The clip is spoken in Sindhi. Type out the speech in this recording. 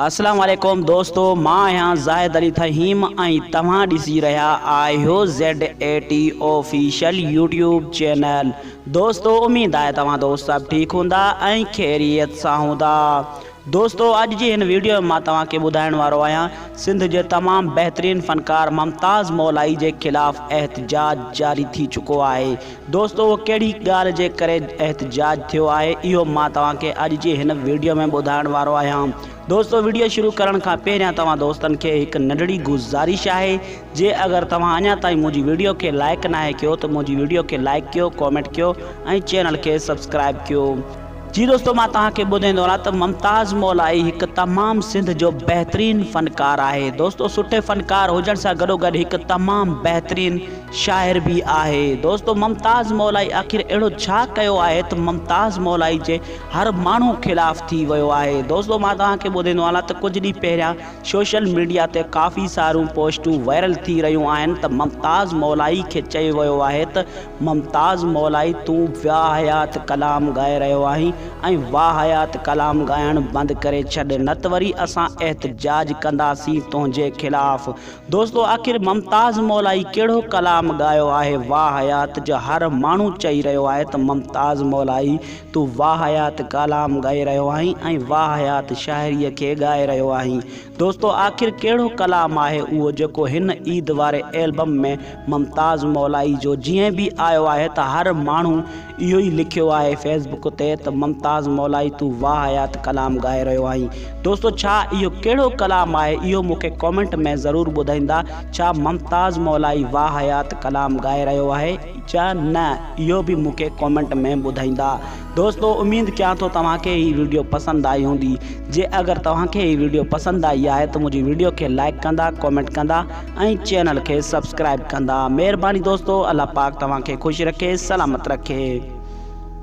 اسلام عليڪم دوستو مان آهيان زاهد علي فهيم ۽ توهان ڏسي رهيا آهيو Z A T official YouTube channel دوستو اميد آهي توهان دوست سڀ ٺيڪ هوندا ۽ خيريت سان هوندا دوستو اڄ جي هن ويڊيو ۾ مان توهان کي ٻڌائڻ وارو آهيان سنڌ جي تمام بهترين فنڪار ممتاز مولائي جي خلاف احتجاج جاري ٿي چڪو آهي دوستو اهو ڪهڙي ڳالهه جي ڪري احتجاج ٿيو آهي اهو مان توهان کي اڄ جي هن وڊيو ۾ ٻڌائڻ وارو آهيان دوستو وڊيو شروع ڪرڻ کان پهريان توهان دوستن کي هڪ ننڍڙي گذارش آهي جي اگر توهان اڃا تائين منهنجي وڊيو کي لائڪ ناهي ڪيو ته منهنجي وڊيو کي لائڪ ڪيو ڪامينٽ ڪيو ۽ چينل کي سبسڪرائب ڪيو. جي دوستو مان توهان کي ٻڌائيندو هلان ته ممتاز مولائي هڪ تمام سنڌ جو بهترين فنڪار آهي دوستو سٺي فنڪار هجڻ سان گڏو گڏ هڪ تمام بهترين شاعر به آهي. دوستو ممتاز مولائي آخر اهڙو ڇا ڪيو آهي ته ممتاز مولائي جي هر ماڻهو خلاف ٿي ويو آهي. دوستو مان توهان کي ٻڌيندو هلان ته ڪجهه ڏينهن پهريان سوشل ميڊيا تي ڪافي ساريون پوسٽون وائرل ٿي رهيون آهن ته ممتاز مولائي کي چيو ويو آهي ته ممتاز مولائي تون واهيات ڪلام ڳائي رهيو آهين ۽ واهيات ڪلام ڳائڻ بند ڪري ڇڏ نه ته وري اسان احتجاج ڪنداسين تنهنجي خلاف دوستو آخر ممتاز مولائي ڪهڙو ڪلام ڳايو آهي واهه حيات جو هر ماڻهو چئي رهيو آهي ته ممتاز مولائي تون واهه حيات ڪالام ڳائي رهيو آهين ۽ واهه حيات شاعري کي ڳائي رهيو آهين دوستو آخر ڪهڙو ڪلام آهي اهو جيڪو هن عيد واري ايلبم ۾ ممتاز مولائي جو جئين به آيو آهي ته هر ماڻهو اهو ئي لکيو آهي فيس بڪ تي ته ممتاز مولائي تون واهيات ڪلام ڳائي رهيو آهين دوستو ڇا اهو ڪهڙو ڪلام آهي اهو مون کي ڪامينٽ ۾ ضرور ٻڌائيندا ڇا ممتاز مولائي واهيات ڪلام ڳائي رهيو آهي يا نه اهو به مون کي ڪامينٽ ۾ ٻڌائيندا دوستو اميد ڪيان ٿو توهان کي هي ويڊيو پسند آئي هوندي جي اگر توهان کي هي ويڊيو پسند آئي آهي ته منهنجي ويڊيو کي لائڪ ڪندا ڪامينٽ ڪندا ۽ چينل کي سبسڪرائب ڪندا مھرباني دوستو الله پاڪ توھان کي خوش رکي سلامت رکي.